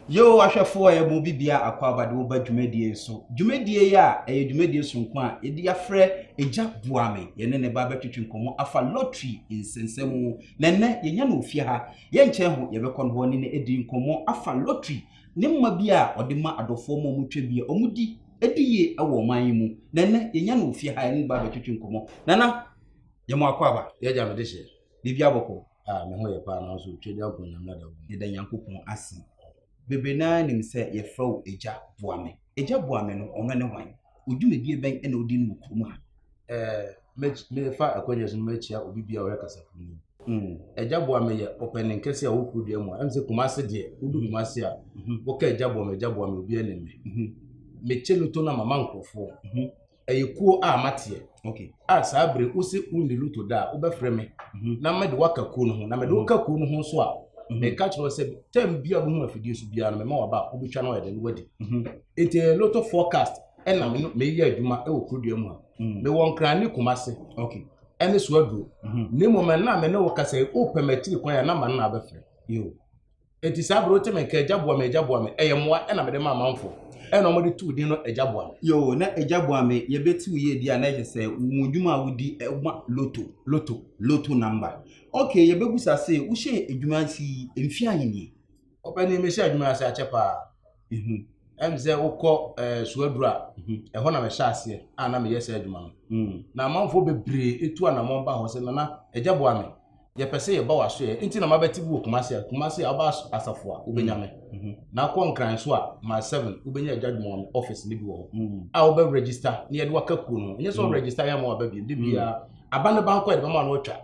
Yehowa hwɛfo a ɛbɔ obi biara akwaaba de wo ba dwumadie yi so. Dwumadie yi a ɛyɛ dwumadie soronko a yɛde afrɛ Agya Boa Me. Yɛne ne ba bɛtwetwe nkɔmmɔ afa lottery nsɛnsɛm ho. Na ɛnnɛ yɛnya no wɔ fie ha. Yɛnkyɛn ho, yɛbɛkɔ no hɔ ne no adi nkɔmmɔ afa lottery ne mma bi a ɔde ma adɔfoɔ ma wɔtwa bi a wɔdi di yie wɔ ɔman yi mu. Na ɛnnɛ yɛnya no wɔ fie ha, yɛne ne ba bɛtwetwe nkɔmmɔ. Nana, yɛ mo akwaaba. Yɛagya mede hyɛ. Da bia bɔkɔ. Ah me ho yɛ paa nanso otwa di ankɔ nyame ada wo. Yɛda Nyankopɔn ase. Bebree no ara nim sɛ yɛfrɛ wo Agya Boame. Agya Boame no, ɔno ne hwan? Odwumadie bɛn na odi no wɔ kurom ha? Eh, mefa akwanya yi so na makyia obi biara a ɔhwɛ kasafoni yi. Mm, Agya Boame yɛ ɔpanin kɛse a ɔwɔ kuro dua mu a ɛm sɛ Kumase deɛ, wodu Kumase a, woka Agya Boame, Agya Boame, obiara nim me. Mekyɛ loto no a, mama nkurɔfoɔ. ɛyɛ kuo a mateɛ okay. a saa bere wo se wo nni loto da a wobɛfrɛ me mm -hmm. na mɛde woaka kuo no ho na mɛde mm -hmm. woka kuo no ho nso a mhm. meka mm -hmm. kyerɛ sɛ tam bia bohu afidie so biara no mɛma waba a wobɛtwa no ɔyɛde no wadi mhm. nti ɛyɛ loto forecast ɛna mhm. meyɛ adwuma ɛwɔ kurodua mu a mhm. mewɔ nkra ne kuma se okay. ɛne so aduro na mmom ɛna me ne wo kasa wopɛ matiri kwan a na ma no na abɛfrɛ Enti saa bere wote me nka Agya boa me, Agya boa me, ɛyɛ mmoa na mede ma amanfo. Ɛna wɔde too din no Agya boa me. Yoo, na Agya boa me yɛ bɛ ti wo yie deɛ a na ɛkyɛ sɛ wo dwuma a wodi ma loto, loto, loto number. Ok, yɛ bɛ busa se, wo hyɛɛ adwuma ase yi mfeɛ ahe nie? Ɔpanin, me hyɛɛ adwuma yi ase akyɛ paa. Ɛm sɛ wokɔ Suaduru a, ɛhɔ na mɛhyɛ aseɛ a na meyɛ saa adwuma no. Hmm. Na amanfoɔ bebree etu anamɔn ba hɔ sɛ nana agya boa me. Yɛpɛ sɛ yɛba w'asoɛ nti na mabɛte bi wɔ Kumasi a Kumasi a ɔba asafo a wobɛnya me. Hmm. Na akɔ Nkran nso a ma seven wobɛnya agya adwuma wɔ office no bi wɔ hɔ. Hmm. A wobɛ register na yɛde waka kuo no. Nyɛ sɛ hmm. register yɛ ama waba bi. De bia aba ne bankɔ yɛde bɛma no atwa.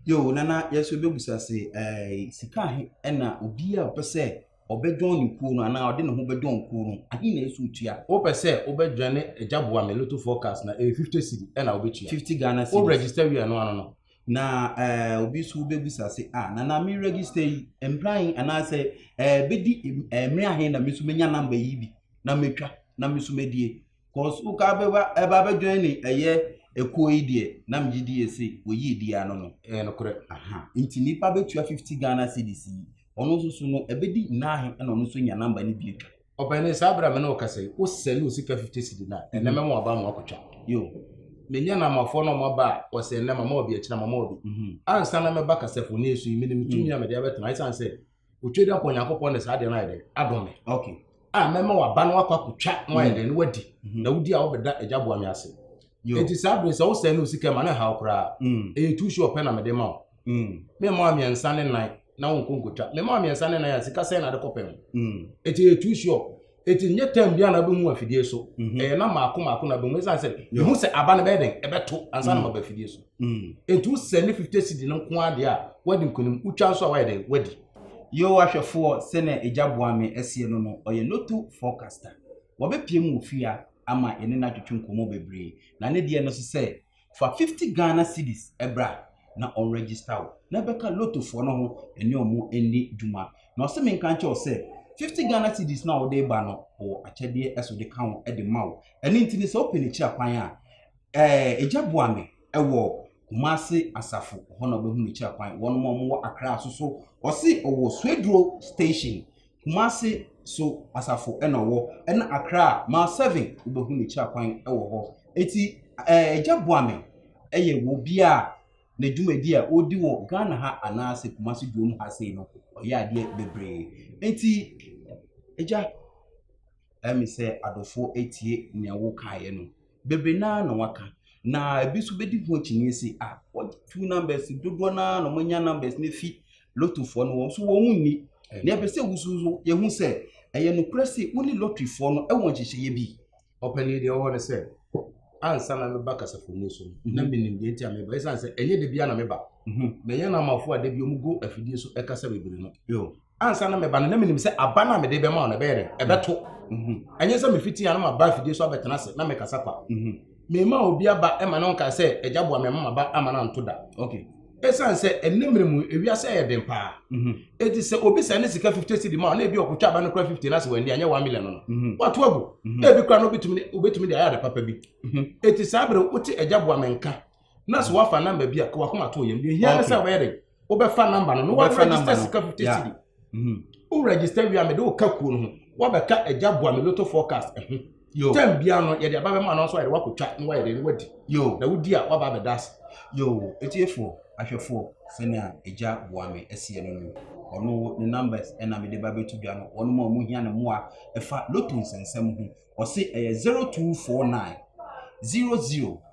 Yo nana yɛso bɛbusa se eh, sika he ɛna obi a ɔpɛ sɛ Ɔbɛdɔn ne kuo no anaa ɔde ne ho bɛdɔn kuo no, ahe na ɛsɛ sɛ ɔtua? Wopɛ sɛ wobɛdwane Agya boa me Lotto forecast no a, ɛyɛ 50 cedi na wobɛtua. 50 Ghana cedis. Wo register wie a, ɛno ano no. Na eh, obi nso bɛbisa se, ah, nana me register yi, mmerɛ ahe anaasɛ eh, bɛdi eh, mmerɛ ahe na me nso mɛnya namba yi bi na matwa na me nso madie? Cause wo ka bɛba ɛba bɛ join ne ɛyɛ ekuo yi deɛ na megye di yɛ se wɔyi edi ano no. Ɛyɛ nokorɛ. Aha nti nipa bɛtua fifty Ghana cedis yi ɔno nso so no ɛbɛdi naahe ɛna ɔno nso nya number no bi atwa. Ɔpanin saa bere a me ne wo kasa yi wo sɛne wo sika fifty cedi no a ɛnɛ mɛma waba ama wakɔtwa. Yo. Menya namafoɔ na wɔn aba a wɔsɛ ɛnɛ mama wɔbi akyina mama wɔbi. Ansa na mɛba kasafoni so yi menim tumi a mede abɛtena esiane sɛ otwa dɛ akɔ nyankopɔn ne saa deɛ no ayɛ dɛ adom me okay a mɛma waba no akɔ akɔtwa na wayɛ dɛ no wadi mhm. na wodi a wobɛda agya boa me ase enti saa bere sɛ wo sɛe ne osika ma ne haw koraa mm. ɛyɛ tu so ɔpɛ na mede ma wo mm. mema wa mmiɛnsa ne nan na wonkɔ nkɔtwa mema wa mmiɛnsa ne nan a sika sɛn na de kɔpɛ ho enti ɛyɛ tu so Eti nyɛ tɛm biara na wobɛhu afidie so. Mhm. Ɛyɛ na maako maako na bɛhu ɛsiane sɛ mehu sɛ aba no bɛyɛ dɛn ɛbɛto ansa na mm. maba afidie so. Mm. Enti wosɛ ne 50 cedi no nko ara deɛ a woadi nkonim wotwa nso a woayɛ dɛn woadi. Yehowa hwɛfoɔ sɛnea agya boa me asie no no, ɔyɛ loto forecaster. Wɔbɛpie mu wɔ fie a ama yɛne no atwetwe nkɔmmɔ bebree. Na ne deɛ no so sɛ Fa fifty Ghana cedis bra na ɔn register wo na bɛka lotto foɔ no ho ɛne wɔn ɛnni dwuma. Na ɔse me nka nkyɛw sɛ fifty Ghana cedis no a wode ba no ɔwɔ akyɛdeɛ ɛso de ka ho ɛde ma wo. Ɛno nti no sɛ wopɛ ne kyira kwan a ɛɛ egya boa me ɛwɔ Kumasi asafo hɔ na wobɛhu ne kyira kwan. Wɔnom a wɔn wɔ Accra nso so ɔse ɔwɔ Swedru station. Kumasi so asafo na ɔwɔ ɛna Accra a mile seven wobɛhu ne kyira kwan wɔ hɔ eti ɛɛ agya Boame ɛyɛ wɔ obi a ne dwumadi a ɔdi wɔ Ghana ha anaasɛ Kumasi duom ha sei no ɔyɛ adeɛ bebree eti agya ɛmi sɛ adɔfoɔ etie nea wokaeɛ no. bebree no ara na wɔaka. Na ebi nso bɛdi ho akyinnye sɛ, ah, wɔatu numbers dodoɔ no ara na wɔanya numbers no afi lottofoɔ no wɔn nso wɔn nni. Na ɛpɛ sɛ wusu nso yɛhu sɛ ɛyɛ nokorɛ sɛ wo ne lotteryfoɔ no wɔ nhyehyɛeɛ bi. Ɔpanin deɛ ɔwɔ no sɛ ansa na meba kasafomu so no na mhm. menim deɛ nti a meba ɛsiane sɛ ɛnyɛ da biara na meba mhm. mɛyɛ no amafoɔ a da bi ɔmugu afidie so ɛkasa bebree no ansa na meba no na menim sɛ aba no a mede bɛma wo no ɛbɛyɛ dɛn ɛbɛto ɛnyɛ sɛ mefiti a na maba afidie so abɛtena ase na mekasa kwa mema obi aba ɛma no nkae sɛ agya boa mema maba ama no anto da ɛsiane sɛ ɛnɛ mmerɛ mu ewiase ɛyɛ den paa ɛti sɛ obi sɛ ne sika 50 cedi ma na ebi ɔkotwa aba no kora 50 no ase wɔ ani anyɛ 1 million no wato agu na ebi kora no wobɛtumi de ayɛ ade papa bi ɛti saa berɛ wote agya boa me nka na so wafa number bi a ka wakoma to yɛm deɛ hia ne sɛ wɔyɛ de wobɛfa number no na wa register sika fifty cedi mhm. wo register wia mede wo ka kuo no ho wabɛka agya boa me loto forecast ɛho mhm. tɛm bia no yɛde aba bɛma no nso ayɛde wakɔtwa na wayɛ de no wadi na wodi a waba abɛda ase yo ɛtiefoɔ ahwɛfoɔ sɛnea agya boa me asiɛ no no ɔno ne numbers ɛna mede ba bɛto dwa no wɔnom a ɔmo hia ne mmoa ɛfa loto nsɛnsɛm ho ɔse ɛyɛ 0249 00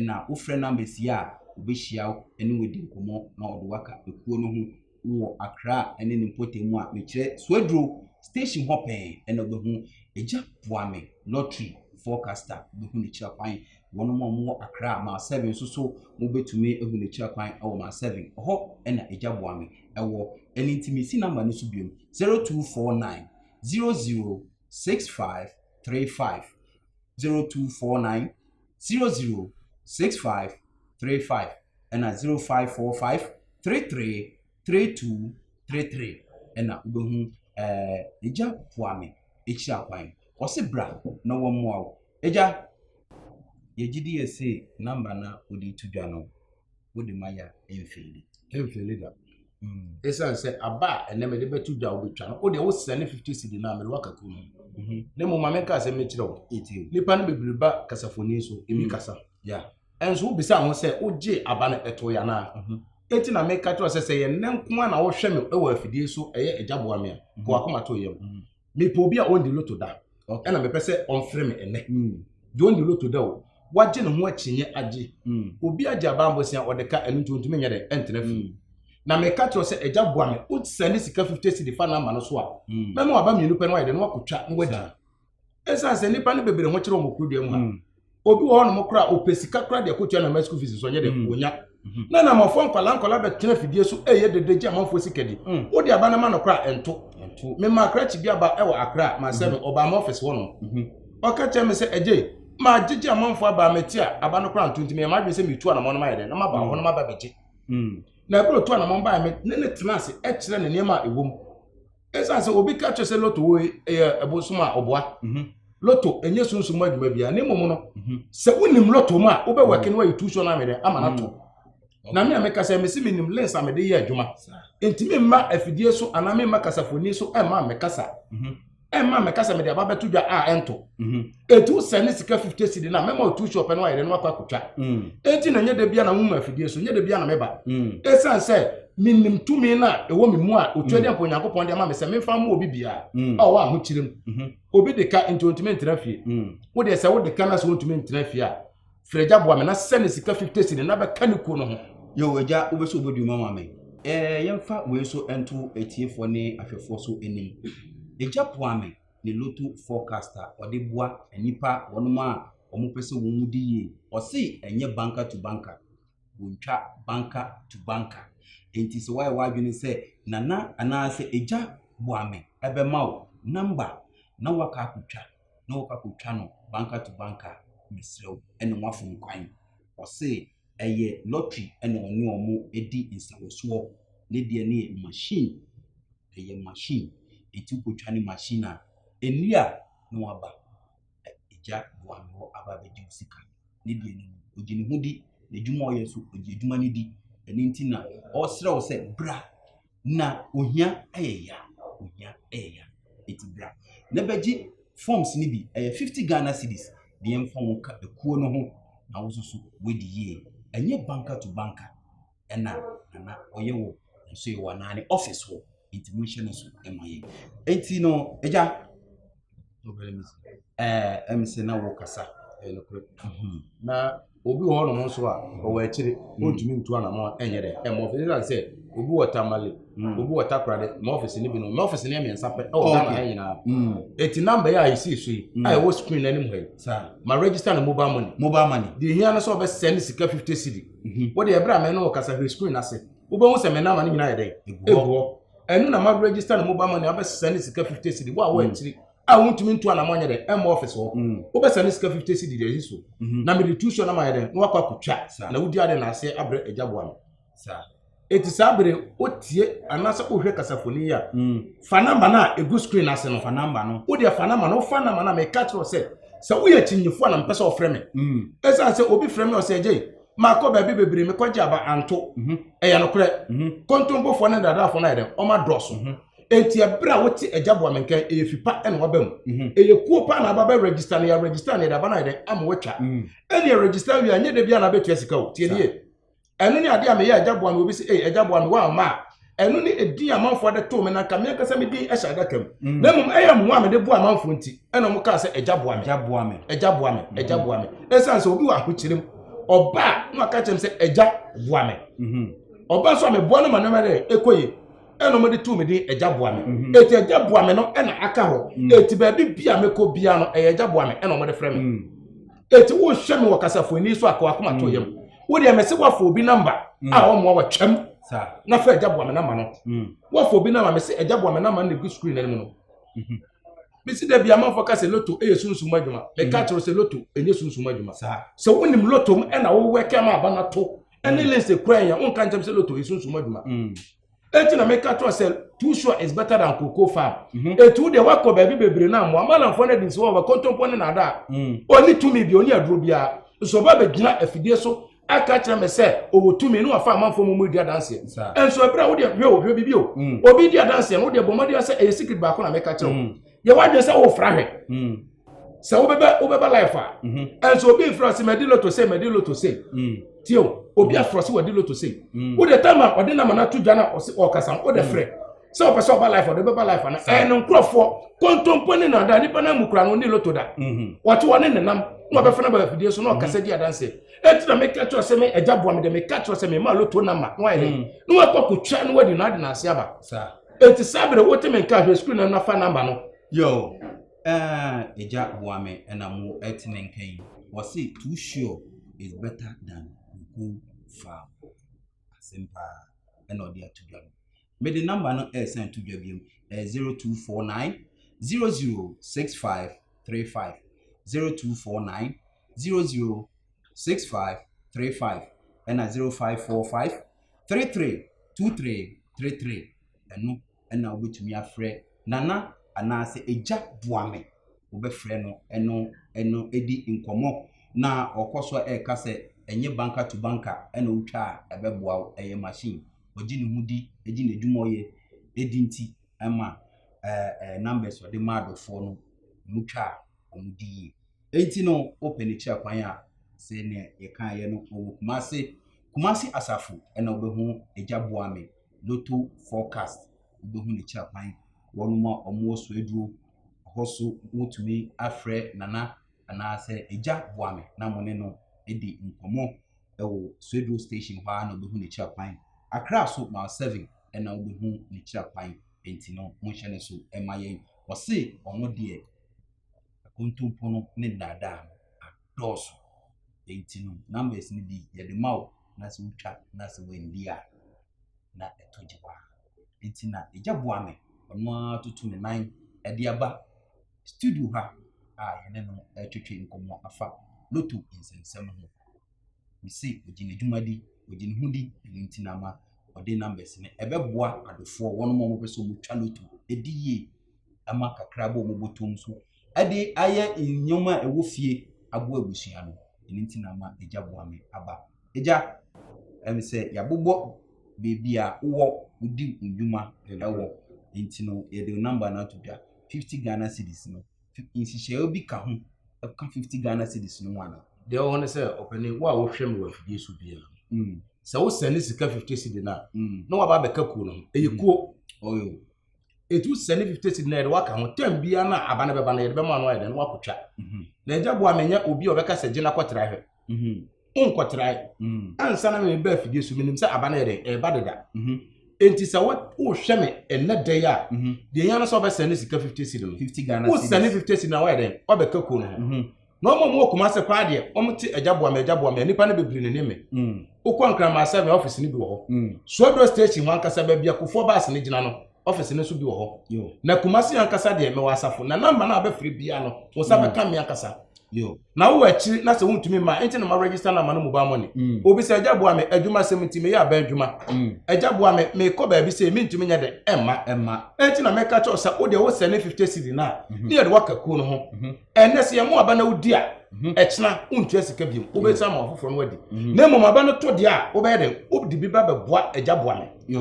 na wofrɛ no amasia a, obehyia wo ne wo adi nkɔmmɔ na ɔde wo aka ekuo no ho wɔ Accra ne ne mpɔtam mu a mekyerɛ Suaduro station hɔ pɛn na wobɛhu Agya Boame lottery forecaster wobɛhu ne kyerɛ kwan wɔn a wɔwɔ Accra maa seven nso so mobɛtumi ahu ne kyerɛ kwan wɔ maa seven hɔ na Agya Boame ɛwɔ ɛno nti mesi namba no so biom zero two four nine zero zero six five three five zero two four nine zero zero six five three five ɛna zero five four five three three three two three three ɛna wobɛhu ɛɛ egya poame ekyir akwan ɔsi bra na wɔn mmoa wo egya yɛgye di yɛ se namba na ɔde to dwa no. wode ma yɛ a mfeeli mfeeli da ɛsiane sɛ aba a ɛnɛ mede bɛto dwa wobɛtwa no wodeɛ wosrɛ ne 50 cedi no a mede waka kuo no mhm. na mmom ma menka sɛ mekyerɛ wo nnipa no bebree ba kasafoni so ɛmi mhm. kasa ɛnso wobisa ho sɛ wogye aba no ɛto yɛ anaa mhm. ɛti na meka kyerɛ sɛ sɛ yɛnnɛ nko a na wohwɛ me wɔ afidie so ɛyɛ agya boa me a kɔwakoma to yam mepɛ obi a ɔndi loto da ɛna mepɛ sɛ ɔmfrɛ me ɛnɛ hmm. deɛ ɔndi loto da o wagye ne ho akyinnye agye hmm. obi agye abambosia ɔde ka ɛno nti ɔntumi nyɛ dɛ ɛntena fie hmm. na meka kyerɛ sɛ agya boa me wosɛ ne sika 50 cedi fa no ama no so a mɛma waba mmienu pɛ no wayɛ dɛ no wakɔtwa na wadi ɛsiane sɛ nnipa no bebree ho kyerɛ wɔn kuro dua mu ha obi wɔ hɔnom koraa ɔpɛ sika koraa de ɛkɔtua na ma school fees nso ɔnyɛ dɛ mm. ɔnya mm-hmm. na na amanfoɔ nkwadaa nkwadaa bɛtena fidie so ɛyɛ dede gye amanfoɔ sika di mm. wode aba no ma no koraa ɛnto mema akrakye bi aba ɛwɔ akra masɛ no mm-hmm. ɔbaa ma ɔfɛse hɔnom mm-hmm. ɔka kyerɛ me sɛ ɛgye ma gyegye amanfoɔ aba mete a aba no koraa nto nti meyɛ madwene sɛ metu anamɔ no mayɛ dɛ na maba hɔ no maba bɛgye na ɛberɛ ɔtu anamɔ baɛ me ne ne tena ase ɛkyerɛ ne nneɛma a ɛwɔ mu ɛsiane sɛ obi ka kyerɛ sɛ loto wei ɛyɛ ɛbosom a ɔboa mhm. loto ɛnyɛ sunsun mu adwuma biara ne mmom no mhm. sɛ wonim loto mu a wobɛwɛke no ayɛ tuusuo no amedɛ ama no ato mhm. na me a meka sɛ mesi menim lens a mede yɛ adwuma nti memma afidie so anaa memma kasafoni so ɛmma mekasa ɛmma mekasa mede aba bɛto dwa a ɛnto etu sɛ ne sika fifty cedi na mɛma otu shop no ayɛ dɛ no akɔ akotwa mm. eti na nyɛ dɛ bia na nwoma afidie so nyɛ dɛ bia na mɛba mm. esan sɛ menim tumi no a ɛwɔ me mu a otua mm. deɛ mpo onyankopɔn de ama me sɛ memfa mma obi biara a ɔwɔ ahokyerɛ mu mm-hmm. obi de ka nti ontumi ntena fie wo deɛ sɛ wode ka no sɛ wontumi ntena fie a frɛgya boa me na sɛ ne sika fifty cedi na bɛka ne kuo no ho yɛ agya wobɛsɛ wobɛdu ma ma me yɛmfa wei so nto atiefoɔ ne ahwɛfoɔ so anim ɛgya boa me ne lotto forecast a ɔde boa nnipa wɔnom a wɔn pɛ sɛ wɔn mu di yie. Ɔse ɛnyɛ banker to banker, wɔntwa banker to banker. Enti sɛ wayɛ w'adwene sɛ nana anaasɛ agya boa me ɛbɛma wo number na waka akɔtwa na wɔkɔ akɔtwa no banker to banker a, mesrɛ wo ɛne wafom kwan. Ɔse ɛyɛ lottery na ɔne wɔn di nsawɔsoɔ. Ne deɛ no yɛ machine, ɛyɛ machine. Nti wokɔtwa ne machine a, ɛnnie a na waba. Agya boa me hɔ aba abɛgye wo sika. Ne deɛ no, ɔgye ne ho di. N'adwuma a ɔyɛ nso, ɔgye adwuma no di. Ɛno nti na ɔresrɛ wo sɛ bra. na ohia yɛ ya, ohia yɛ ya. Eti bra na bɛgye forms no bi, ɛyɛ fifty Ghana cedis na yɛmfa wo nka ekuo no ho na wo nso so woadi yie. Ɛnyɛ banker to banker ɛna nana ɔyɛ wɔ nso yɛ wɔ anaa ne office hɔ, enti monhyɛ no so ma yɛn. Enti no, agya, ɛm sɛ na wɔkasa ɛyɛ nokorɛ mhm. na obi wɔ hɔnom nso a ɔwɔ akyire ɔntumi ntu anamɔ ɛnyɛ dɛ ɛmɔ ɔfisi sane sɛ obi wɔ tamale mm. obi wɔ takorade ma ɔfisi no bi no ma ɔfisi no yɛ mmiɛnsa pɛ ɛwɔ ghana ha nyinaa ɛti mm. namba yɛ a ɛsii so yi mm. a ɛwɔ screen no anim ha yi ma register no mobile money mobile money deɛ hia no sɛ ɔbɛsɛ ne sika 50 cedi mhm. wode ɛberɛ a mɛ no ɔkasa hwɛ screen no ase wobɛhu sɛ me namba no nyinaa yɛ dɛn ɛgu hɔ ɛno na ma register no mobile money abɛsesa ne sika fifty cedi wo a wɔ akyiri a wontumi ntu anamɔ nyɛ dɛ ɛmɔ office hɔ mm. wobɛsa ne sika fifty cedi deɛ ɛyi so mhm. na mede tu so na mayɛ dɛ na wakɔ akotwa na wodi ade na aseɛ abrɛ agya boa no eti saa bere wotie anaasɛ wohwɛ kasafoni yi a mm. fa namba no a egu screen ase no fa namba no wodeɛ fa namba no wofa namba no a meka kyerɛ sɛ sɛ woyɛ kyinyefo a na mpɛ sɛ ɔfrɛ me ɛsiane mm. sɛ obi frɛ me ɔsɛ agye Makɔ baabi bebree, mekɔgye aba anto. Mhm. Ɛyɛ nokorɛ. Mhm. Kontompofoɔ ne nnadaafoɔ no ayɛ dɛn? Wɔn adɔɔso. Mhm. Enti ɛberɛ a wote agya boa me nkan, ɛyɛ fi pa na waba mu. Mhm. Ɛyɛ kuo pa na aba bɛ register no, yɛ register no, yɛde aba no ayɛ dɛn? Ama watwa. Mhm. Ɛnneɛ register awie a, nyɛ da biara na abɛtua sika o. Tie nie. Ɛno ne adeɛ a meyɛ agya boa me, obi se, ei agya boa me, woamma a, ɛno ne ɛdin amanfoɔ de too me na nka me ankasa me din hyɛ adaka mu mm. na mmom ɛyɛ mmoa mede boa amanfoɔ nti ɛna ɔmo kaa sɛ agya boa me agya boa me agya boa me mm-hmm. agya boa me ɛsiane sɛ obi wɔ ahokyere mu ɔba a na ɔka kyerɛ me sɛ agya boa me mm-hmm. ɔba nso a meboa no ma nneɛma dɛ ɛkɔ yie ɛna ɔmo de too me din agya boa me mm-hmm. eti agya boa me no ɛna aka hɔ mm. eti baabi bia mekɔ bia no ɛyɛ agya boa me ɛna ɔmo de frɛ me. Mm. eti wohwɛ me wɔ kasafo ani so akɔ akoma to yam wo deɛ mɛsɛ woafa obi namba a ɔmmoa wa twam na fɛ agya boa me namba no woafa obi namba mɛsɛ agya boa me namba no na egu screen anim no bisi dɛ bi amanfo ka sɛ loto yɛ sunsum adwuma ɛka kyerɛ sɛ loto ɛnyɛ sunsum adwuma sɛ wonim loto mu ɛna wowɛ kɛm aba no to ɛne lense kura yɛn wonka nkyɛm sɛ loto yɛ sunsum adwuma eti na meka kyerɛ sɛ too sure is better than cocoa farm mhm. etu deɛ wakɔ baabi bebree na mmoa malamfoɔ no adi nsi wɔ wɔkɔntɔmpɔ ne nada a mm. ɔni tumi bi ɔni aduro biara nso ɔba bɛgyina afidie so aka kyerɛ me sɛ ɔwɔ tumi ne wafa amanfoɔ mu mu di adanseɛ nso ɛberɛ a wodeɛ hwɛ o hwɛ bibi o mm. obi di adanseɛ no wodeɛ bɔ mmɔdeɛ sɛ ɛyɛ secret baako na meka kyerɛ wo mm. yɛ wadwene sɛ wofra hwɛ mm. sɛ wobɛbɛ wobɛba life a mhm. ɛnso obi mfra sɛ madi loto sɛ madi loto sɛ mm. tio obi afra sɛ wadi loto sɛ mm. wode tam a ɔde nama no ato dwa na ɔkasa wode frɛ sɛ ɔpɛ sɛ ɔba life ɔde bɛba life ana ɛyɛ no nkurɔfoɔ kontompo ne nada nipa no amu kura no ne loto da mhm. wɔte wɔ ne nenam na ɔbɛfa no ba afidie so na ɔkasa di adanse ɛti na meka kyerɛ sɛ me agya boa me dɛ meka kyerɛ sɛ mema loto nama na wayɛ dɛ na wakɔ kɔtwa na wadi no ade no ase aba Eti saa bere wote me nka hwɛ sukuu no na fa number no. Yoo aah agya boa me na mo te me nka yi wɔse too sure is better than go far asɛm paa ɛna ɔde ato dwa no mede number no ɛresan to dwa biom ɛyɛ 0249 006535 0249 006535 ɛna 0545 three three two three three three ɛno ɛna wobɛtumi afrɛ nana anaasɛ agya boa me wobɛfrɛ no ɛno ɛno ɛdi nkɔmmɔ na ɔkɔ so ɛka sɛ ɛnyɛ banka to banka ɛna wotwa a ɛbɛboa wo ɛyɛ machine ɔgye ne ho di ɛgye n'adwuma ɔyɛ ɛdi nti ɛma ɛɛ numbers ɔde ma adɔfoɔ no mutwa a wɔn di yie. Enti no, wopɛ ne kyerɛ kwan a, sɛ nea yɛkaeɛ no, ɔwɔ Kumase. Kumase asafo na wobɛhu Agya Boame, Lotto Forecast, wobɛhu ne kyerɛ kwan. Wɔnom a wɔwɔ Soaduro hɔ so wotumi afrɛ Nana anaasɛ Agya Boame na mo ne no adi nkɔmmɔ wɔ Soaduro station hɔ ara na wobɛhu ne kyerɛ kwan. Accra so mile seven na wobɛhu ne kyerɛ kwan. Enti no, monhyɛ ne so ma yɛn. Ɔse ɔno deɛ. Akontompo no ne nnaadaa no adɔɔso. Enti no, numbers no bi yɛde ma wo na sɛ wotwa na sɛ wandi a, na ɛtɔ gye paa. Enti na agya boa me, ɔno ara toto ne nan de aba studio ha a yɛne no retwetwe nkɔmmɔ afa loto nsɛmnsɛm ho. Mese ɔgye ne dwumadi, ɔgye ne ho di, ɛno nti na ama ɔde numbers no ɛbɛboa adofoɔ, wɔn a wɔpɛ sɛ wɔtwa loto ɛdi yie. ma kakra bɔ wɔn bɔtɔm so de ayɛ nneɛma a ɛwɔ fie aboa abusua no. Ɛno nti na ama agya boa me aba. Agya, ɛne sɛ yɛabobɔ baabi a wowɔ wodi nnwuma ɛwɔ. Nti no, yɛde wo namba no ato dwa. 50 Ghana cedis no, nhyehyɛeɛ bi ka ho ɛka 50 Ghana cedis no ho anaa? Deɛ ɛwɔ hɔ ne sɛ, ɔpanin, wo a wohwɛ me wɔ afidie so biara no, mm. sɛ wosɛne sika 50 cedi no a, mm. na waba abɛka kuo no ho. Ɛyɛ mm. kuo. Oh, ɛtumi sɛ ne fifty cedi na yɛde waka ho tɛm biara no a aba no bɛba no yɛde bɛma no ayɛ dɛn na wakɔtwa mhm. na agya boa menyɛ obi a ɔbɛka sɛ gyina kɔtra hwɛ mhm. wonkɔtrae mhm. ansa na mebɛ afidie so menim sɛ aba no yɛ dɛn ɛba deda enti sɛ wohwɛ me ɛnɛ dɛn a deɛ ɛhia no sɛ wobɛsɛne sika fifty cedi no wosɛne fifty cedi na woayɛ dɛn wabɛka kuo no ho Na wɔn a wɔwɔ Kumase paa deɛ, wɔte agya boa me, agya boa me, a nipa no bebree nenim me. Mm. Wokɔ Nkraman sɛ me office no bi wɔ hɔ. Mm. Suaduro station hɔ ankasa baabi akofoɔ baase no gyina no, office no nso bi wɔ hɔ. Yo. Na Kumase ankasa deɛ mewɔ asafo, na namba no a wobɛfrɛ biara no, wo nsa mm. bɛka me ankasa. Yo. Na wowɔ akyiri na sɛ wontumi mma, ɛnti na ma register namba no mobile money. Mm. Obi sɛ agya boa me, adwuma sɛm nti meyɛ abɛn adwuma. Mm. Agya boa me, mekɔ baabi sɛ mentumi nyɛ dɛ, ɛmma. Ɛmma. Ɛnti na mɛka kyɛw sɛ wo deɛ wosɛ ne 50 cedi no a, mm-hmm. ne yɛde waka kuo no ho. Mm-hmm. ɛnɛ sɛ yɛn mu aba na wodi a mhm. ɛkyena wontua sika biom mhm. wobɛsa ma ɔfoforɔ no adi mhm. na mmom aba no to deɛ a wobɛyɛ dɛn wode bi ba bɛboa agya boa me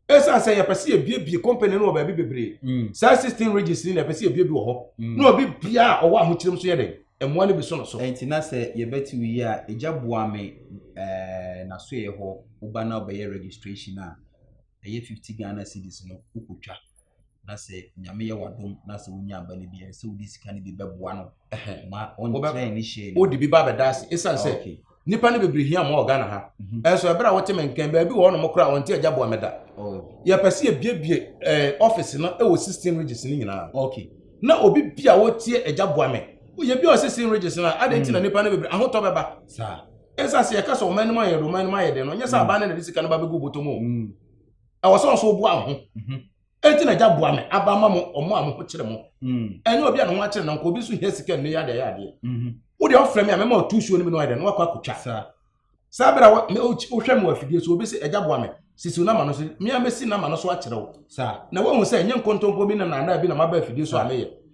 ɛsiane sɛ yɛpɛ sɛ yɛbiebie company no wɔ baabi bebree mm. saa system regis ni na yɛpɛ sɛ yɛbiebie wɔ hɔ mm. na obi bia a ɔwɔ ahokyerɛm so yɛ dɛn mmoa no bi so no so ɛnti na sɛ yɛbɛte wo yi a agya boa me nasoɛ hɔ woba na wobɛyɛ registration a ɛyɛ 50 ghana cities no wokɔtwa na sɛ nyame yɛ wadom na sɛ wonya aba no bi ɛsɛ sɛ wode sika no bi bɛboa no ma ɔnkyerɛ ne hyɛ no wode bi ba bɛda ase ɛsiane sɛ ah, nnipa no bebree hia ma ɔghana ha mhm. ɛnso ɛberɛ a wote me nkɛn baabi wɔ ɔnom koraa ɔnte agya boa mɛda oh. yɛpɛ sɛ yɛbiebie eh, office no ɛwɔ 16 regis no nyinaa na obi bi a wotie agya boa me yɛbi ɔ 16 regis no a adɛn nti na mm. nnipa no bebree ahotɔ bɛba ɛsiane sɛ yɛka sɛ ɔma anim ayɛ de ɔma anim ayɛ de no nyɛ sɛ mm. aba no na de sika no ba bɛgu bɔtɔ mu mm. ɛwɔ sɛ ɔso boa ho mhm. enti na agya boa me aba ma mo ɔmo a mo ho kyerɛ mo mm. ɛnyɛ obi a ne ho akyerɛ nanka obi nso hia sika nnɛ yɛ adeɛ yɛ adeɛ mhm. wo deɛ ɔfrɛ me a mɛma ɔtu suo no mi na ɔyɛ dɛ na wakɔ akotwa saa bere a wohwɛ me wɔ afidie so obi sɛ agya boa me sisiw nama no so mmea mesi nama no so akyerɛ wo na woahu sɛ ɛnyɛ nkontompo bi na naadaa bi na maba afidie so a meyɛ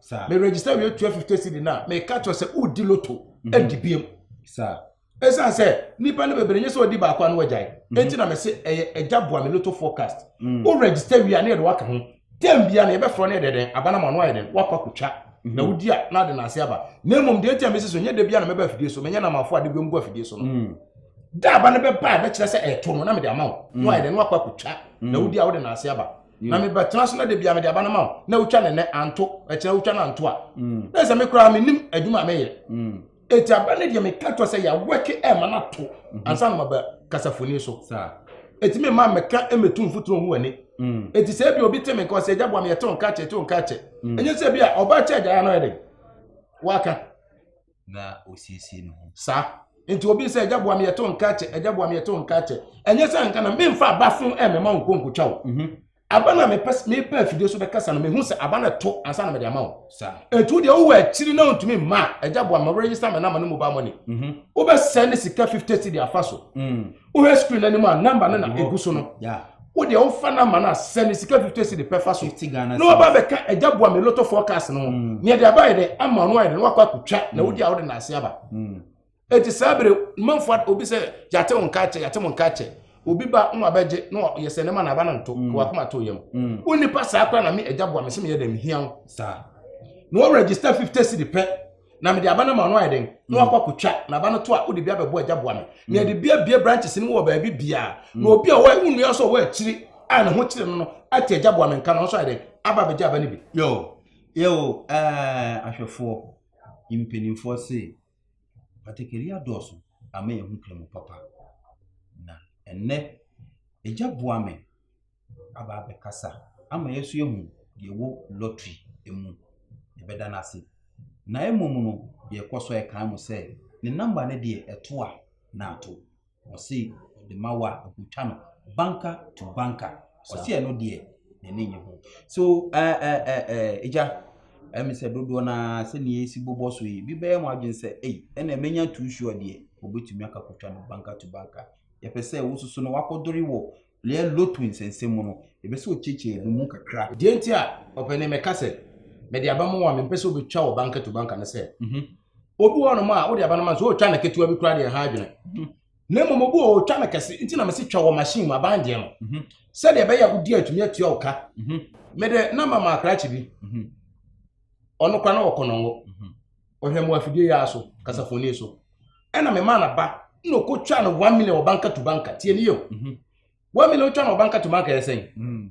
Sir. Me register wie tua fifty cedi na me ka kyerɛ sɛ odi loto mhm. edi biem. Sir. Esan sɛ nipa no bebree nye sɛ odi baako ano agyae. Mhm. Eti na me se ɛyɛ ɛgya boa me loto forecast. Mm. O register wie a ne yɛde waka ho. Term bia na yɛbɛfrɛ no yɛ dɛ dɛn abanam ano ayɛ dɛn wakɔ akotwa. Mhm. Na wodi a na ade na ase aba. Na mmom deɛ eti a mesi so nye de bia na mɛba afidie so menyɛ na amafo ade biom gu afidie so no. Mm. Da aba no bɛba a bɛkyerɛ sɛ ɛto no na mede ama wo. Na ayɛ dɛn wakɔ akotwa. Na wodi a wode na ase aba. na mebɛtena so na da bia mede aba no ma wo na wotwa ne nɛ anto ɛkyerɛ wotwa no anto a mm. na sɛ me koraa menim adwuma a meyɛ mm. ɛti aba no deɛ meka kyerɛ sɛ yɛawɛke ɛma no ato mhm. ansa no maba kasafoni so ɛti me ma mɛka mɛtu mfoturo hu ani ɛti mm. sɛ bi obi te me nka ɔsɛ agya boa meyɛte wo nka kyɛ te wo nka kyɛ ɛnyɛ sɛ bi a ɔba kyɛ agyaeɛ no ɛde waka na ɔsiesie ne ho saa nti obi sɛ agya boa me yɛto nka kyɛ agya boa me yɛto nka kyɛ ɛnyɛ sɛ nka na memfa aba fo ɛmɛma wo nkonkotwa wo mhm. aba no a mepɛ afidie so bɛkasa no mehu sɛ aba no to ansa na mede ama wo ɛnti wo deɛ wowɔ akyiri na wontumi mma agya boa ma werɛyisa me nama no mobile money mhm. wobɛsɛ ne sika 50 cedi afa so mm. wohwɛ screen no anim a namba no na ɛgu so no wodeɛ wofa namba no a sɛ ne sika fifty si de pɛfa so na waba bɛka agya boa me loto forecast no ho mm. neɛ de abayɛ dɛ ama no ayɛ dɛ na wakɔ akɔtwa na mm. wodi a wode naase aba mm. enti saa bere manfoɔ obi sɛ yɛate wo nka kyɛ yɛate mo nka kyɛ obi ba na wabɛgye na yɛ sɛ ne ma na aba no nto ka wakoma to yam wo nipa saa kora na me agya boa me sɛ meyɛ dɛ mehia wo na wɔregister fifty si de pɛ na mede aba no ma ɔno ayɛ den na wakɔ akɔtwa na aba no to a wode bi abɛbɔ agya boa me na yɛde bi abie branches no mu wɔ baabi biaa na obi a ɔwɔ nnua nso ɔwɔ akyiri a ne ho kyerɛ no no ate agya boa me nka no nso ayɛ den aba abɛgya aba no bi yo yo ɛɛ ahwɛfoɔ mpanimfoɔ se patakari adɔɔso ama yɛn ho kura mu papa na ɛnɛ agya boa me aba abɛkasa ama yɛn nso yɛahu deɛ ɛwɔ lottery mu. Yɛbɛda no ase. Na mmom no, yɛkɔ so ɛkan mo sɛ ne namba no deɛ ɛto a na ato. Ɔse ɔde ma wo a ɛkɔtwa no banka to banka. Ɔse ɛno deɛ n'ani nye ho. So ɛgya ɛmi sɛ dodoɔ no ara sɛ nea esi bobɔ so yi bi bɛyɛ mo adwene sɛ ei ɛna menya too sure deɛ ɔbɛtumi akakɔtwa no banka to banka. Yɛpɛ sɛ wososo no wakɔdore wɔ Lea lotu nsɛnsɛm mu no, yɛpɛ sɛ ɔkyiakyia yɛn mu kakra. Deɛ nti a ɔpɛ ne mɛka sɛ, mede aba ma wo a, mempɛ sɛ wobɛtwa wo ba nkatuba nka no sɛ, mhm. Obi wɔ hɔnom a, wode aba no ma no sɛ ɔretwa no ketewa bi koraa deɛ ha adwene. Mhm. Na mmom obi wɔ ɔretwa no kɛse, nti na mese twa wɔ machine mu, aban deɛ no. Mhm. Sɛdeɛ ɛbɛyɛ a wodi atumi atua wo ka. Mede namba ma akrakye bi. Ɔno koraa na ɔwɔ kɔnɔngo. ɔhwɛmmoa afidie yaa so kasafoni so ɛna memaa no aba na ɔkɔtwaa no one million ɔbanka to banka tie ne yɛ mhm. one million ɔtwa no ɔbanka to banka yɛ sɛn mhm.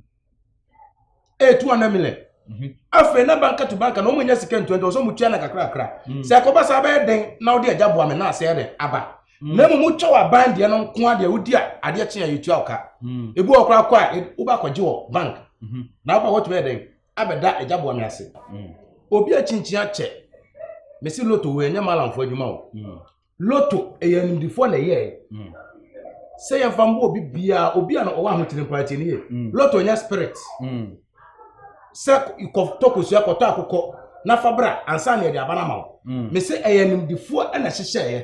ɛyɛ two hundred million mhm. afei na banka to banka na ɔmo nya sika ntua nti ɔsɛ ɔmo tua na kakrakra sɛ ɛkɔba saa bɛyɛ den na ɔde agya boa me na asɛɛ dɛ aba na mmom wotwa wɔ aban deɛ no nko adeɛ wodi a adeɛ kye a yɛtua ɔka ebi wɔ koraa kɔ a wobɛkɔgye wɔ bank na wobɛ wɔtumi yɛ dɛn abɛda agya bɔne ase obi akyinkyia kyɛ mesi loto wɔ ɛnyɛ malamfo adwuma o mm. loto ɛyɛ animdifoɔ na ɛyɛɛ mm. sɛ yɛmfa mbɔ obi biara obi a ɔwɔ ahokyere mpo atie ne yie mm. loto ɛnyɛ spirit sɛ kɔtɔ kosua kɔtɔ akokɔ na fa bra ansa na yɛde aba no ama wo mesi ɛyɛ animdifoɔ na ɛhyehyɛeɛ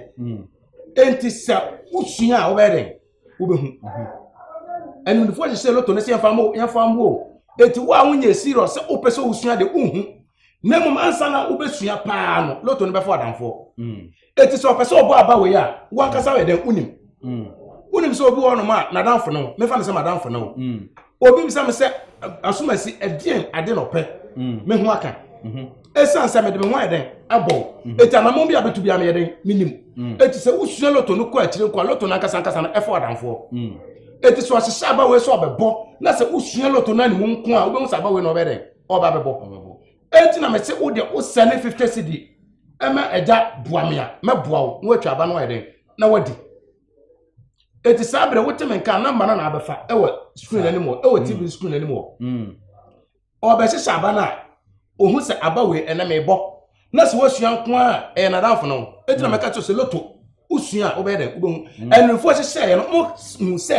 enti sɛ wosua a wobɛyɛ dɛn wobɛhu animdefoɔ hyehyɛ loto no sɛ yɛmfa mo yɛmfa mo o eti wo a wonyɛ serious sɛ wopɛ sɛ wosua de wohu na mmom ansa na wobɛsua paa no loto no bɛfo adamfoɔ mm. eti sɛ ɔpɛ sɛ ɔbɔ aba wei a wankasa yɛ dɛn wonim mm. wonim sɛ obi wɔ nom a n'adamfo no mefa no sɛ m'adamfo no mm. obi bisa me sɛ asomasi ɛdeɛn ade na ɔpɛ mm. me ho aka ɛsiane mm-hmm. sɛ mede me ho ayɛ dɛn abɔ ɛti mm-hmm. anamɔ bi a bɛtu bia meyɛ dɛn menim ɛti mm. sɛ wosua loto no kɔ akyire nkɔ a loto no ankasa ankasa no ɛfa ɔdamfoɔ ɛti sɛ ɔhyehyɛ abawei sɛ ɔbɛbɔ na sɛ wosua loto no animu nko a wobɛhu sɛ abawei na ɔbɛ dɛn ɔba bɛbɔ ɛti na mese wode wosɛ ne 50 cedi ɛma agya boa me a mɛboa wo na woatwa aba no ayɛ dɛn na wadi eti saa abirɛ wote me nka namba na na abɛfa ɛwɔ screen anim hɔ ɛwɔ tv mm. screen anim hɔ mm. ɔbɛhyehyɛ aba no a ohun sɛ aba wei ɛnɛ mɛ bɔ na sɛ wɔsua nko a ɛyɛ nadamfo no eti na mm. mɛka kyerɛ sɛ loto wosua a wobɛyɛ dɛ wobɛhu ɛnufo hyehyɛ yɛ no mo hu sɛ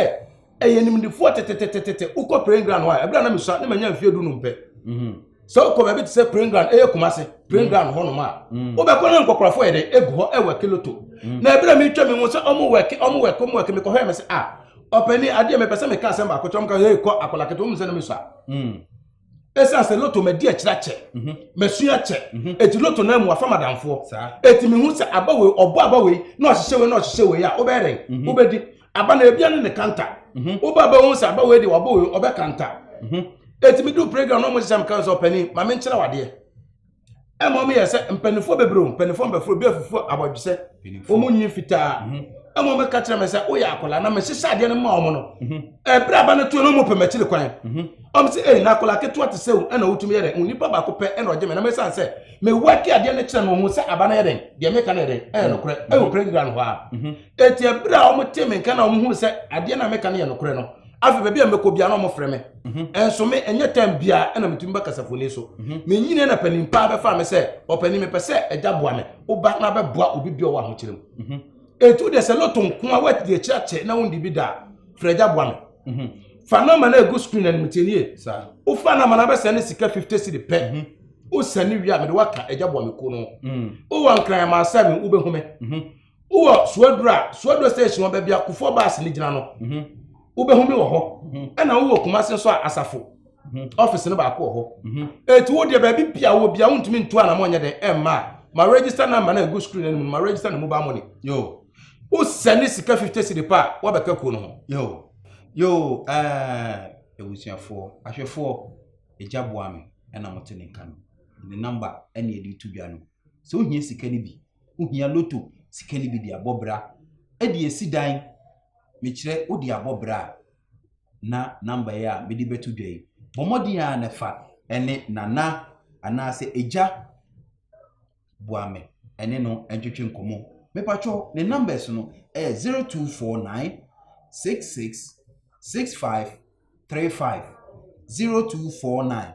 ɛyɛ nimdefoɔ tetetetetete wokɔ praying ground hɔ a ɛberɛ a na mesua na manya mfeɛ du nom pɛ mhm. sɛ wokɔ baabi te sɛ praying ground ɛyɛ kuma se praying mhm. ground hɔ nom a mhm. wobɛkɔ na nkɔkorɔfoɔ yɛ dɛ ɛgu hɔ ɛwɔ kiloto na ɛberɛ a metwa me ho sɛ ɔmo wɛke ɔmo wɛke ɔmo wɛke mekɔhwɛ me sɛ a ah, ɔpani adeɛ mepɛ sɛ meka asɛm baako kyɛ ɔmo ka hei kɔ akɔla kete ɔmo sɛ na mesua ɛsiane sɛ loto madi akyirɛ kyɛ mhm. masua kyɛ mhm. ɛti loto no amu afa madamfoɔ ɛti mehu sɛ aba wei ɔbɔ aba wei na ɔhyehyɛ wei na ɔhyehyɛ wei a wobɛyɛ dɛn mhm. wobɛdi aba na ebia ne ne kanta wobɛ aba hu sɛ aba wei deɛ wabɔ wei ɔbɛ kanta ɛti medu playground na ɔmo hyehyɛ me kan sɛ ɔpani ma menkyerɛ wadeɛ ɛma wɔn yɛ sɛ mpanimfoɔ bebree o mpanimfoɔ mbɛfo obi afufu abɔdwesɛ wɔn nyi fitaa mhm. ɛma wɔn ka kyerɛ mi sɛ woyɛ akwadaa na mehyehyɛ adeɛ no ma wɔn no mhm. ɛbere aba no tuo no wɔn pɛ m'akyiri kwan mhm. wɔn sɛ ɛyi na akwadaa ketewa te sɛ ɛna wotumi yɛ dɛ nipa baako pɛ ɛna ɔgye mi na mesan sɛ mewa ki adeɛ no kyerɛ no ho sɛ aba no yɛ dɛn deɛ meka no yɛ dɛn ɛyɛ nokorɛ ɛwɔ pere ngira no hɔ a eti ɛbere a wɔn te mi nka na wɔn hu sɛ adeɛ no a meka no yɛ nokorɛ no afei baabi a mɛkɔ bia na ɔmo frɛ me mhm. ɛnso me ɛnyɛ time bia ɛna metumi bɛ kasafoni so mhm. menyini na panin paa bɛfa me sɛ ɔpanin mepɛ sɛ ɛgya boa me woba na bɛboa obi bia ɔwɔ ahokyerɛ mu ɛtu mhm. deɛ sɛ lɔto nko a woati deɛ kyerɛkyerɛ na wondi bi daa frɛ agya boa me fa nɔma no agu screen animtianie wofa nɔma no abɛsɛ ne sika 50 cedi pɛ wosɛne wie a mede woaka agya boa me kuo no wowɔ nkran ma asɛ me wobɛhu me wowɔ suaduro a suaduro station ɔbɛ bi akofoɔ baasi ne gyina no mhm. wobɛhu mi wɔ hɔ mhm. ɛna wowɔ kumase nso a asafo mhm. ɔfisi no baako wɔ hɔ eti wo deɛ baabi bia wɔ bia wontumi ntu anamɔ nyɛ dɛ ɛmma a ma register number na egu screen anim ma register ne mobile money yoo wosɛ ne sika fifty cedi pa a wabɛka kuo no ho yoo yoo ɛɛ ebusuafoɔ ahwɛfoɔ egya boa mi ɛna mo te ne nka no ne number ɛna yɛde tu dwa no sɛ wohia sika no bi Wohia lotto sika no bi de abɔ bra. Ɛde asi dan. Mekyerɛ, wode abɔ bra a, na number yi a mede bɛto dwa yi, bɔ mmɔden ara na fa ne Nana anaasɛ Agya Boame ne no ntwetwe nkɔmmɔ. Mepakyɛw, ne numbers no yɛ 0249 66 65 35 0249.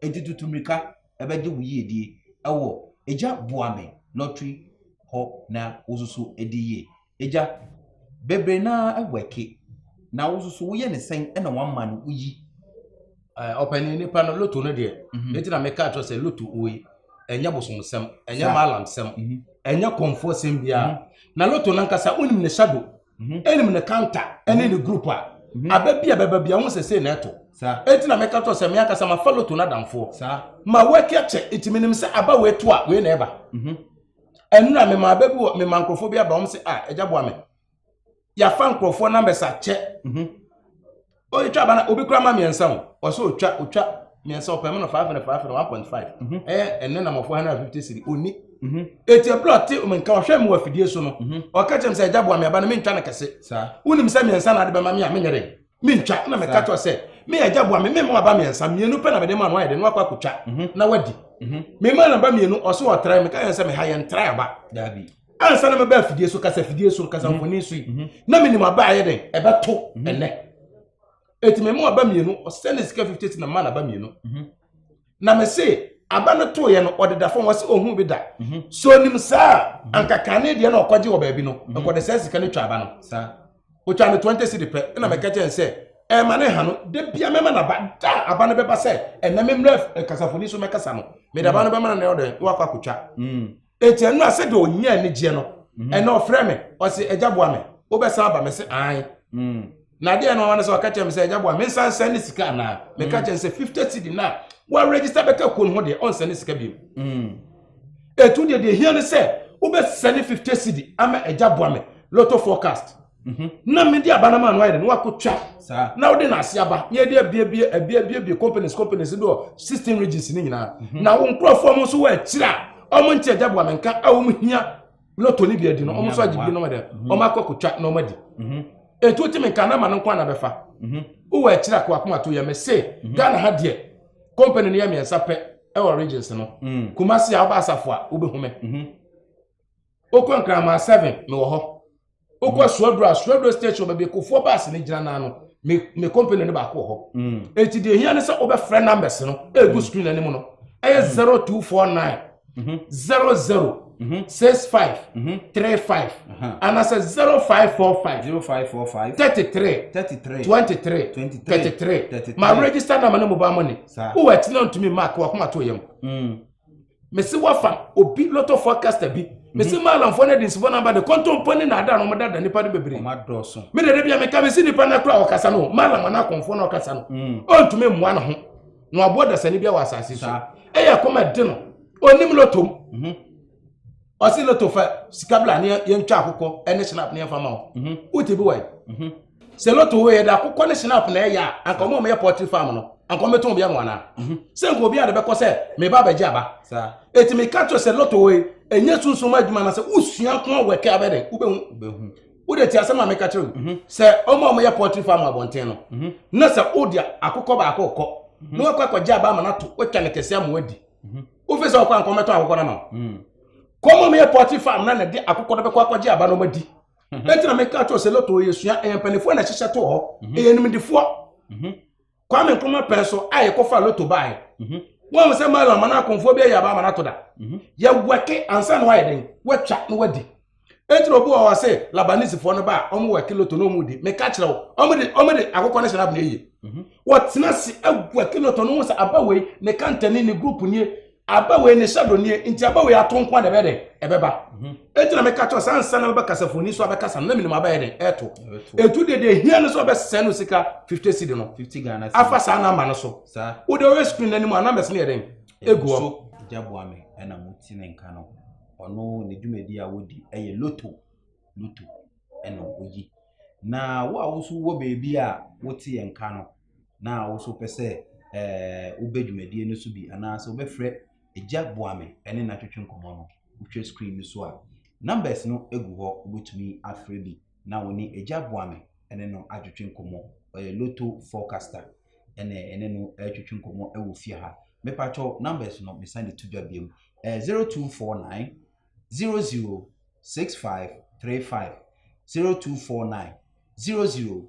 Enti tutu mmirika bɛgye wo yiedie wɔ Agya boa me lottery hɔ na wo nso so di yie. Agya, bebree no ara wɛke na wo nso so woyɛ ne sɛn na wama no woyi? Ɔpanin nipa no loto no deɛ, mhm. ne ti na meka kyerɛ sɛ loto wei ɛnyɛ bosomsɛm, ɛnyɛ maalamsɛm, mhm. ɛnyɛ kɔnfoɔ sɛm biara. Mhm. Na loto no ankasa wonim ne hyɛ do. mhm. ɛnim ne kanta ɛne ne group a mhm. aba bi a bɛba bi a wɔn sɛ sei na ɛto eti na mɛka tɔ sɛ mɛ akasa ma fa loto n'adamfoɔ ma wɔaki akyɛ eti menim sɛ aba wɔ eto a wei na ɛba mhm. ɛnura mɛ ma aba bi wɔ mɛ ma nkorɔfoɔ bi aba wɔn sɛ a ah, ɛgya boa mɛ yafa nkorɔfoɔ numbers akyɛ ɔtwa aba na obi kura ma mmiɛnsa o ɔsɛ ɔtwa ɔtwa mmiɛnsa ɔpɛ mu no five hundred five hundred one point five mhm. ɛyɛ ɛnɛ na mɔfo hundred fifty siri ɔni mhm. eti ɛpere ɔte mu nka ɔhwɛ mu wɔ afidie so no mhm. ɔka kyerɛ mu sɛ ɛgya boa mi aba no mi ntwa no kɛse wonim sɛ mmiɛnsa na ade bɛma mi a mi nyɛ dɛ mi ntwa ɛna mi ka kyerɛ sɛ mi yɛ ɛgya boa mi mi mu aba mmiɛnsa mmienu pɛ na mi de mu ano ayɛ dɛ na wakɔ akotwa na wadi mi ma na ba mmienu ɔso ɔtra mi ka yɛn sɛ mi ha yɛn tra aba daabi. ansa na mɛba afidie so kasa fidie so kasa mhm. mfoni so yi mhm. na menim aba ayɛ dɛn ɛbɛto mhm. ɛnɛ ɛti mɛmu aba mmienu ɔsɛ ne sika 50 ti na ma na aba mmienu na mese aba no to yɛ no ɔdeda fam wɔsɛ ɔhu bi da so nim saa ankakane deɛ na ɔkɔgye wɔ baabi no nkɔde sɛ sika no twa aba no ɔtwa no 20 si de pɛ ɛna mɛka kyɛn sɛ ɛma ne ha no da bia mɛma no aba da aba no bɛba sɛ ɛnɛ memmerɛ kasafoni so mɛkasa no mede aba no bɛma no na ɔdɛ na wakɔ akɔtwa Enti ɛno a sɛdeɛ ɔnya anigyeɛ no mhm. ɛna ɔfrɛ me ɔse agya boa me wobɛsan aba me se ae mm. na adeɛ no ɔne sɛ ɔka kyerɛ me sɛ agya boa me nsa nsɛn ne sika anaa meka mm. kyerɛ sɛ 50 cedi no a wɔregister bɛka kuo no ho deɛ ɔnsɛn ne sika bio mm. ɛtu deɛ deɛ hia no sɛ wobɛsɛne 50 cedi ama agya boa me lotto forecast Mhm. na mede aba no ma no ayɛ dɛ na wakɔtwa na wode no ase aba na yɛde abiabie abiabiabie companies companies bi wɔ sixteen regions no nyinaa mhm. na wo nkurɔfoɔ mo nso wɔ akyiri a ɔmo nte agya boa menka a ɔmo hia lotto no bi adi no ɔmo nso agye bi no dɛ mhm. ɔmo akɔ kɔtwa na ɔmo adi mhm. ɛtu ti menka na ma no nko ana bɛfa wowɔ akyiri a kɔakoma to yɛ me se ghana ha deɛ company no yɛ mmiɛnsa pɛ ɛwɔ regions no mm. kumase a wobɛ asafo a wobɛhu me wokɔ nkraman seven mewɔ hɔ wokɔ suaduro a suaduro station baabi kofoɔ baase no gyina naa no me me company no baako wɔ hɔ eti deɛ ehia ne sɛ wobɛfrɛ numbers no egu screen anim no ɛyɛ zero two four nine zero zero six five three five anaasɛ zero five four five zero five four five thirty three thirty three twenty three thirty three ma register number ne mobile money Saa. wowɔ ɛtena ntumi mark wakoma to yam mese wafa obi lot of forecaster bi mese mhm. maalamfoɔ no adinsifoɔ no aba de kɔntɔmpɔ ne naada no ɔmodada nipa no bebree mede da bia meka mese nipa no kora ɔkasa no maalam ana akɔmfoɔ no ɔkasa no mm. ɔntumi mmoa no ho na waboa dasani bia wɔ asase so ɛyɛ kɔma de no ɔnim lotom mhm. ɔse loto fa sika bla ne yɛntwa akokɔ ɛne snap ne yɛmfa ma wo mhm. wote bi wae sɛ lotto wɔ yɛ de akokɔ ne snap na ɛyɛ a anka ɔmo a ɔmɛyɛ pɔtri farm no anka ɔmɛtɔn obi ama wɔn ana mhm. sɛ nka obi a de bɛkɔ sɛ meba abɛgye aba eti mi ka kyerɛ sɛ lotto wɔ yi enye sunsun adwuma na sɛ usua nko awɔ ɛkɛ abɛ dɛ wobɛhu wode ti asɛm a meka kyerɛ wo mhm. sɛ ɔmo a ɔmɛyɛ pɔtri farm abɔnten no mhm. na sɛ wode akokɔ baako kɔ na wakɔ akɔgye aba ama no ato watwa ne kɛse ama wadi wofi sɛ ɔkɔ anka ɔmɛtɔn akokɔ no ama kɔmɔ meyɛ pɔtri farm na na de akokɔ no bɛkɔ akɔgye aba no ɔmadi mhm. ɛnti na meka kyerɛ sɛ lotto yɛ sua ɛyɛ mpanimfoɔ na ɛhyehyɛ toɔ mhm. ɛyɛ nimdifoɔ mhm. kwame nkrumah pɛn so a yɛkɔfa lotto baeɛ wɔn mu sɛ mala ama no akɔmfoɔ bi ayɛ aba ama no ato da yɛwɛke ansa na wayɛ den watwa na wadi ɛnti na obi wɔ hɔ sɛ labanisifoɔ no ba a wɔn wɛke lotto na wɔn di meka kyerɛ wo wɔn de wɔn de akokɔ no hyɛ n'abena yie wɔtena se awɛke lotto no ho sɛ aba wei ne kantani ne group nie aba wei ne shadow nie nti aba wei ato nko a na ɛbɛyɛ dɛ ɛbɛba mhm. eti na meka kyerɛ sɛ ansa na bɛba kasafoni so abɛkasa no na menim abɛyɛ dɛ ɛto etu de deɛ hia no so ɔbɛsɛn no sika fifty cedi no afa saa na ama no so wode ɔyɛ screen no anim a numbers no yɛ dɛn egu hɔ. gyaboa me ɛna mo ti ne nka no ɔno ne dwumadi a wodi ɛyɛ loto loto ɛna oyi na wo a woso wɔ baabi a wote yɛn nka no na wo nso wopɛ sɛ ɛɛ wobɛ dwumadie no so bi anaasɛ wobɛfrɛ Agya Boame ne no atwetwe nkɔmmɔ no, wohwɛ screen no so a, numbers no gu hɔ, wobɛtumi afrɛ bi na wo ne Agya Boame ne no atwetwe nkɔmmɔ. Ɔyɛ Lotto forecaster ɛna ɛne no atwetwe nkɔmmɔ wɔ fie ha. Mepatwɔ numbers no mesan de to dwa biom, ɛyɛ 0249 006535 0249 00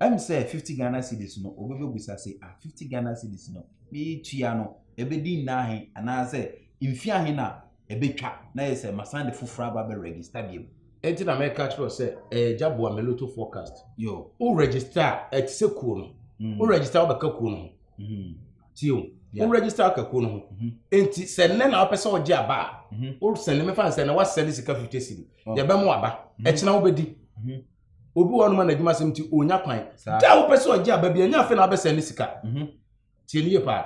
Ɛm sɛ fifty Ghana cedis no obi bɛbusa se ah fifty Ghana cedis no meetua no ɛbɛdi nna ahe anaasɛ mfie ahe na ɛbɛtwa na yɛ sɛ masan de foforɔ aba bɛ register biom. Ɛnti na mɛka kyerɛ wo sɛ ɛyɛ gya boa me loto forecast. Yo. Wo register a ɛte sɛ kuo no. Mm. Wo register wobɛka kuo no ho. Mm. Tie o. Yeah. Wo register aka kuo no ho. Mm -hmm. Ɛnti sɛ nnɛ na wopɛ sɛ wogye aba a. Mm -hmm. Wo sɛne mefa nsɛ na wasɛne sika 50 cedi. Oh. Yɛbɛmo aba. Mm -hmm. Ɛkyena wobɛdi. Mm -hmm. obi wɔ hɔnom a n'adwuma sɛm nti ɔnya kwan da wopɛ sɛ ɔgye aba bi ɛnyɛ afei na wabɛsɛn ne sika mhm. tie ne yie paa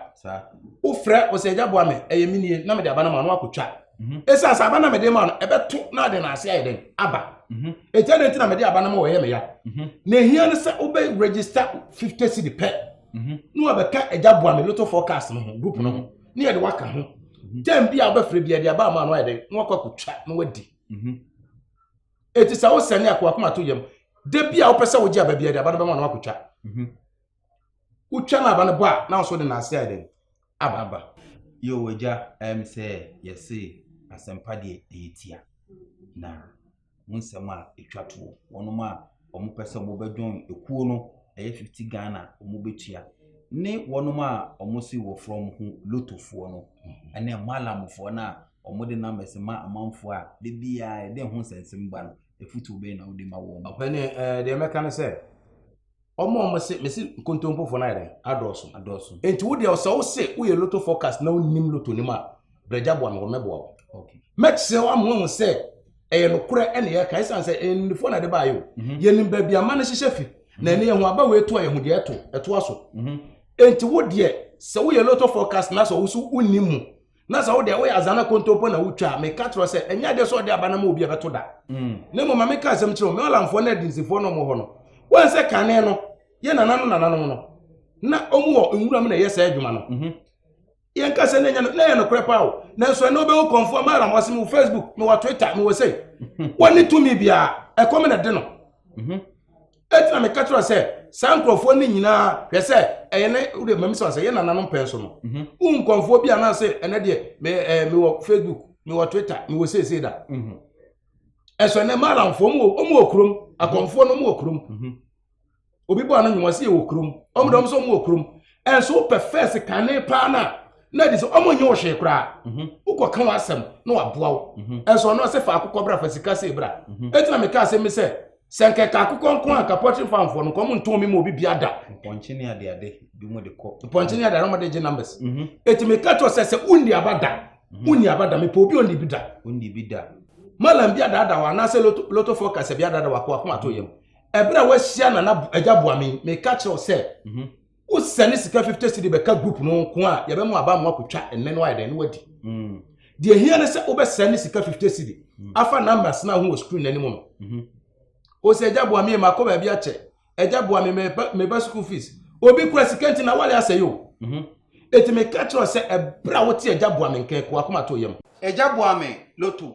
wofrɛ ɔsɛ agya boa me ɛyɛ me nie na mede aba no ma no akɔtwa mhm. ɛsiane sɛ aba na mede ma no ɛbɛto na ade no ase ayɛ dɛn aba mhm. ɛtia ne nti na mede aba no ma wɔyɛ me ya na ɛhia no sɛ wobɛ register 50 cedi pɛ na wabɛka agya boa me lotto forecast no ho group no ho ne yɛde waka ho tam bi a wobɛfrɛ bi ɛde aba ama no ayɛ dɛn na wakɔ akɔtwa na wadi eti sɛ wosɛne a kowakoma to yam da bi a wopɛ sɛ wogye aba biara de aba no bɛma no akotwa mhm. wotwa no aba no bɔ a na nso de naase ayɛ dɛn aba aba yɛwɔ agya ɛm sɛ yɛse asɛmpa deɛ ɛyɛ tia na wo nsɛm a ɛtwa toɔ wɔnom a wɔn pɛ sɛ wɔn bɛ join ekuo no ɛyɛ fifty Ghana wɔn bɛ tua ne wɔn a wɔn si wɔ frɔ wɔn ho lotofoɔ no ɛne malamfoɔ no a wɔn de numbers ma amanfoɔ a de biara ɛde ho nsɛnsɛm ba no efutuo bɛyɛ na wɔde ma wɔn. ɔpɛni ɛɛ deɛ mɛka ne sɛ wɔn a wɔn se mesi nkontompofoɔ no ayɛ dɛ adɔɔso adɔɔso nti wo deɛ ɔsɛ wo se woyɛ loto forecast na wonim loto nim a. brɛgya boa me wɔ mɛboa wo mɛkyerɛ wo ama wahu sɛ ɛyɛ nokorɛ ɛne yɛka ɛsiane sɛ ɛnnifoɔ na ɛde baayɛ o mhm. yɛnim baabi ama no hyehyɛ fi na ɛne yɛho aba wei to a yɛho deɛ ɛto ɛtoa so mhm. enti wo deɛ sɛ woyɛ loto forecast na sɛ wo so wonni mu na sɛ wodeɛ woyɛ azana kontompo na wotwa a meka kyerɛ sɛ ɛnyɛ adeɛ sɛ ɔde aba no ma obi ɛbɛto da mm. na mmom ma meka asɛm kyerɛ wo meɔlamfoɔ ne adinsifoɔ no ɔmɔ hɔ no wɔn sɛ kane no yɛ nananom nananom no na ɔmu wɔ nwura mu na ɛyɛ saa adwuma no mhm. yɛn kasa ne nyɛ ne yɛ nokorɛ paa o nanso ɛnna wobɛhu kɔnfoɔ ma ara wɔsɛm wɔ facebook me wɔ twitter me wɔ sɛ wɔne tumi biara ɛkɔm na de no mhm. ɛtina meka kyerɛ sɛ saa nkurɔfoɔ no nyinaa hwɛ sɛ ɛyɛ ne wode mami sɛ sɛ yɛ nananom pɛn so no mhm. wo nkɔnfoɔ bi anaa sɛ ɛnɛ deɛ mewɔ facebook mewɔ twitter mewɔ seesei da mhm. ɛsɛ ɛnɛ maalamfoɔ mu wɔ kurom akɔnfoɔ no mu wɔ kurom obi bɔ ano nwuma sɛ yɛwɔ kurom ɔmo dɔm sɛ ɔmo wɔ kurom ɛnso wopɛ fɛs kane paa no a na adi sɛ ɔmo nyɛ wo hwee koraa mhm. wokɔ ka w'asɛm na waboa wo mhm. ɛnso ɔno ɔsɛ fa akokɔ bra fa sika sɛ bra mhm. ɛti na meka asɛm mi sɛ sɛ nkɛka akokɔ nko a kapɔtre famfoɔ no nkɔm ntɔn mi ma obi bia da mpɔnkyene adeade bi mu de kɔ mpɔnkyene adeade ɔmo de gye numbers ɛti meka kyerɛ sɛ sɛ wonni aba da wonni aba da mepɛ obi onni bi da onni bi da malam bi adaadaa wa anaasɛ loto loto forecast bi adaadaa wa kɔ akoma to yam ɛberɛ a wahyia nana agya boame meka kyerɛ wo sɛ mhm. wosɛne sika 50 cedi bɛka group no nko a yɛbɛma aba mmoa kɔtwa ɛnɛ no ayɛ dɛn ne wadi mm. deɛ hia ne sɛ wobɛsɛne sika 50 cedi mm. afa numbers no ho wɔ screen no anim no mhm. o sɛ agya boame makɔ baabi akyɛ agya boame meba school fees obi kura sika nti na wale asɛe o mhm. ɛti meka kyerɛ sɛ ɛberɛ a wote agya boame nkɛkoa koma to yam agya boame loto